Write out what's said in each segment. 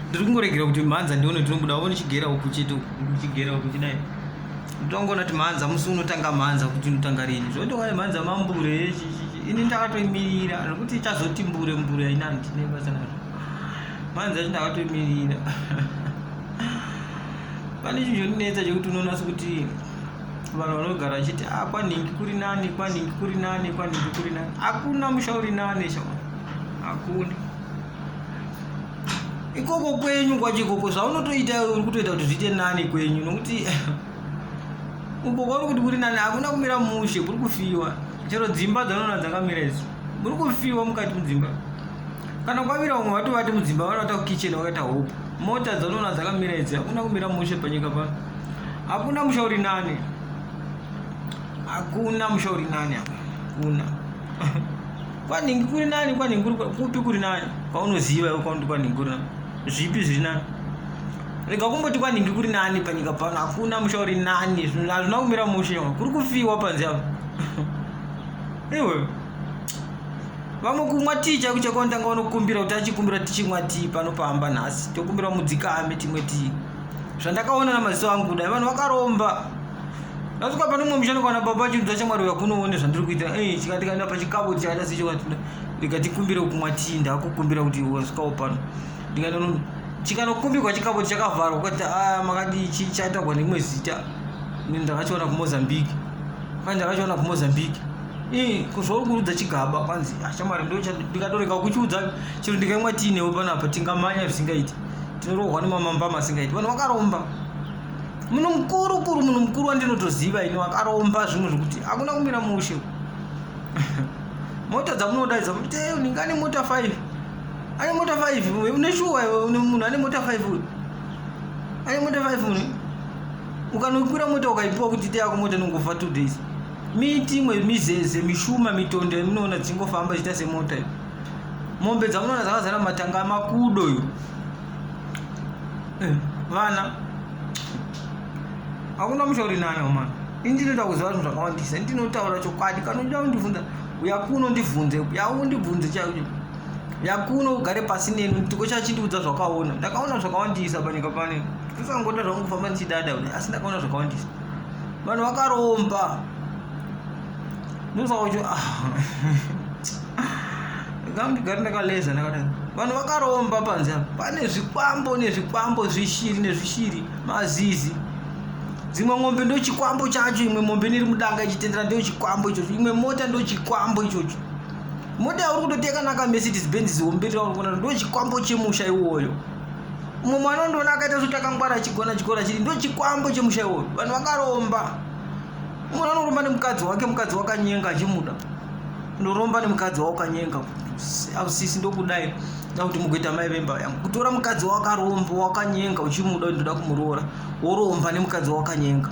ndiri kungoregera kuti mhanza ndione tinobuda one chigera uku chete chigera uku chidai ndongoona kuti mhanza musi unotanga mhanza kuti unotanga rini zvondoka mhanza mambure ini ndakatoimirira nokuti ichazoti mbure mbure haina ndine basa nazvo mhanza yacho ndakatoimirira pane chinhu chondinetsa chekuti unoona sekuti vanhu vanogara vachiti a ah, kwanhingi kuri nani kwanhingi kuri nani kwanhingi kuri nani hakuna musha uri nani shaa hakuna ikoko kwenyu kwacho ikoko zvaunotoita uri kutoita kuti zviite nani kwenyu nokuti uko kwauri kuti kuri nani hakuna kumira mushe kuri kufiwa chero dzimba dzaunoona dzakamira idzo muri kufiwa mukati mudzimba kana kwamira vamwe vatovati mudzimba vanovata kukitchen vakaita hope mota dzaunoona dzakamira idzi hakuna kumira mushe panyika pano hakuna musha uri nani hakuna musha uri nani hakuna kwanhingi kuri nani kwanhingi kuri kupi kuri nani kwaunoziva iwe kwauti kwanhingi kuri nani zvipi zviri nani rega kumboti kwanhingi kuri nani panyika pano hakuna musha uri nani hazvina kumira mushe kuri kufiwa panzi avo iwe vamwe kumwa tii chaiku chakondanga unokumbira kuti achikumbira tichimwa tii pano pamba nhasi tokumbira mudzikame timwe tii zvandakaona namaziso angu kudai vanhu vakaromba ndasvika pane umwe mushando kana baba chinzwa chamwari uya kunoone zvandiri kuita ei chikati kana pachikavo chakaita sechokatinda ndikatikumbira kumwa tii ndakukumbira kuti wasvikawo pano ndikanono chikanokumbirwa chikavo chakavharwa ukati a ah, makadii chii chataurwa nerimwe zita ini ndakachiona kumozambique kwanzi ndakachiona kumozambique ii kuzvauri kurudza chigaba kwanzi ah, chamwari ndikatorega kuchiudza chero ndikaimwa tii newe panapa tingamanya zvisingaiti tinorohwa nemamambama asingaiti vanhu vakaromba munhu mukuru kuru munhu mukuru wandinotoziva ini wakaromba zvimwe zvekuti hakuna kumira mushe mota dzamunodaidza kuti eh, unenge ane mota five ane mota five une shuwa une munhu ane mota five uyu ane mota five munhu ukanokwira mota ukaipiwa kuti ite yako mota inongofa two days miti imwe mizeze mishuma mitondo yamunoona dzingofamba ichiita semota iyo mombe dzamunoona dzakazara matanga amakudo iyo eh, vana hakuna mushauri nani omana ini ndinoda kuziva zvinhu zvakawandisa ndinotaura chokwadi kana uchida kundibvunza uya kuno ndibvunze uya undibvunze chaicho uya kuno ugare pasi neni ndiko chachindiudza zvakaona ndakaona zvakawandisa panyika pane kusangoda zvangu kufamba ndichidada kudai asi ndakaona zvakawandisa vanhu vakaromba ndosaka kuti ah. ndigari ndakaleza ndakadaro vanhu vakaromba panze apa pane zvikwambo nezvikwambo zvishiri nezvishiri mazizi dzimwe mombe ndochikwambo chacho imwe mombe niri mudanga ichitendera ndochikwambo ichocho imwe mota ndochikwambo ichocho mota yauri kutoteka naka mercedes benz zihombe rauri kuona ndochikwambo chemusha iwoyo umwe mwana undoona akaita zvotakangwara achigona chikora chiri ndochikwambo chemusha iwoyo vanhu vakaromba Mwana anoromba nemukadzi wake, mukadzi wakanyenga achimuda. Unoromba nemukadzi wawakanyenga. Ausisi ndokudai. Nda kuti mugoita mai vemba yangu. Kutora mukadzi wakaromba, wakanyenga uchimuda unoda kumuroora. Woromba nemukadzi wakanyenga.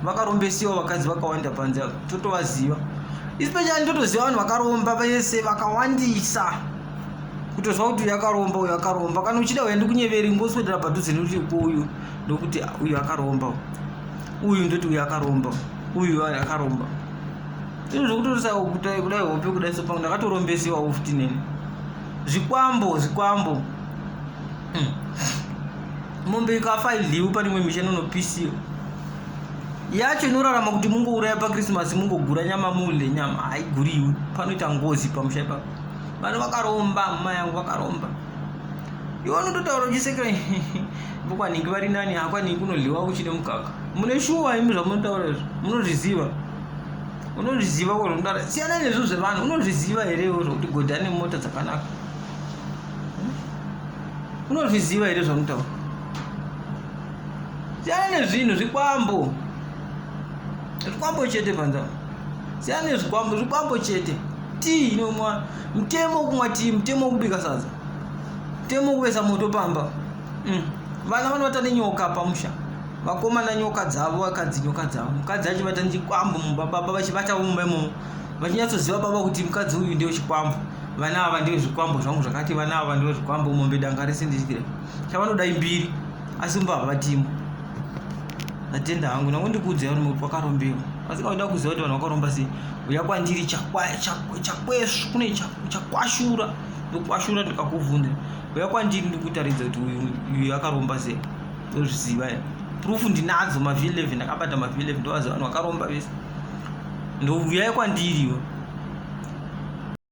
Vakarombesiwa vakadzi vakawanda panze apo. Totovaziva. Especially ndotoziva vanhu vakaromba vese vakawandisa. Kutozwa kuti yakaromba uyo akaromba. Kana uchida uende kunyeveri ngoswedera padhuze nekuti uyu ndokuti uyu akaromba. uyu ndoti uyu akaromba uyu akaromba izvo zvekutorisa kudai hope kudai sopa ndakatorombesewa ofti neni zvikwambo zvikwambo hmm. mombe ikafa idliwi pane imwe misha inonopisiwa yacho inorarama kuti mungouraya pakrismasi mungogura nyama mule nyama haiguriwi panoita ngozi pamusha ipapo vanhu vakaromba muma yangu vakaromba iwe unototaura uchisekera vokwanhingi vari nani hakwanhingi unodliwa kuchine mukaka mune shuwa imi zvamunotaura izvo munozviziva unozviziva kwazvomutaura siyana nezvo zvevanhu unozviziva here iwe zvokuti godhi ane mota dzakanaka unozviziva here zvamunotaura siyana nezvinhu zvikwambo zvikwambo chete panzaa siyana nezvikwambo zvikwambo chete tii inomwana mutemo wokumwa tii mutemo wokubika sadza mutemo wokuvesa moto pamba mm. vana vanovata nenyoka pamusha vakomana nyoka dzavo vakadzi nyoka dzavo mukadzi achivata nechikwambo mumba baba vachivatavo mumba imomo vachinyatsoziva baba kuti mukadzi uyu ndewe chikwambo vana ava ndewe zvikwambo zvangu zvakati vana ava ndewe zvikwambo mombe danga rese ndichikira chavanoda imbiri asi mumba havatimo ndatenda hangu nangu ndikuudzai kuti muri kwakarombewa asi kauda kuziva kuti vanhu vakaromba sei uya kwandiri chakwesvu kune chakwashura ndokwashura ndikakuvhunza uya kwandiri ndikutaridza kuti uyu akaromba sei ndozviziva ya proof ndinadzo mavi 11 ndakabata mavi 11 ndovaziva vanhu vakaromba vese ndouyai kwandiriwo